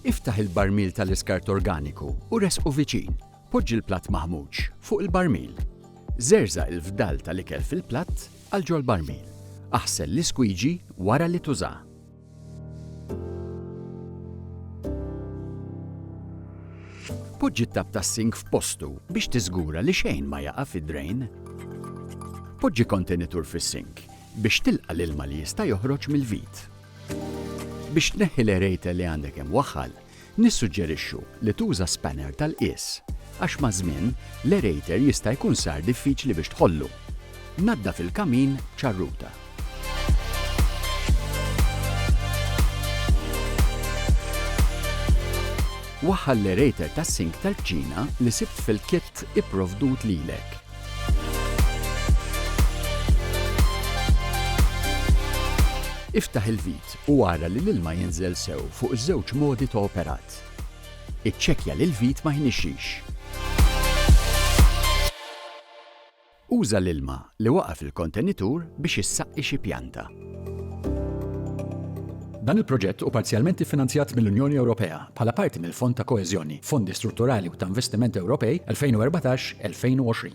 Iftaħ il-barmil tal-iskart organiku u ressqu viċin. Poġġi l-platt maħmuġ fuq il-barmil. Żerżaq il-fdal tal-ikel fil-platt għal ġol-barmil. Aħsel l-iskwiġi wara li tuża. Poġġi t-tapp tas-sink f'postu biex tiżgura li xejn ma jaqa' fid-drejn. Poġġi kontenitur fis-sink biex tilqa' l-ilma li jista' joħroġ mill-vit. Biex tneħħi l-erejtel li għandek imwaħħal, nissuġġerixxu li tuża spanner tal-qies, għax maż-żmien, l-erejtel jista' jkun sar diffiċli biex tħollu. Naddaf il-kamin b'ċarruta. Waħħal l-erejtel tas-sink tal-kċina li sibt fil-kit ipprovdut lilek. Iftaħ il-vit u ara li l-ilma jinżel sew fuq iż-żewġ modi ta' operat. Iċċekkja li l-vit ma jnixxix. Uża l-ilma li waqa' fil-kontenitur biex issaqqi xi pjanta. Dan il-proġett hu parzjalment iffinanzjat mill-Unjoni Ewropea bħala parti mill-Fond ta' Koeżjoni, Fondi Strutturali u ta' Investiment Ewropej 2014-2020.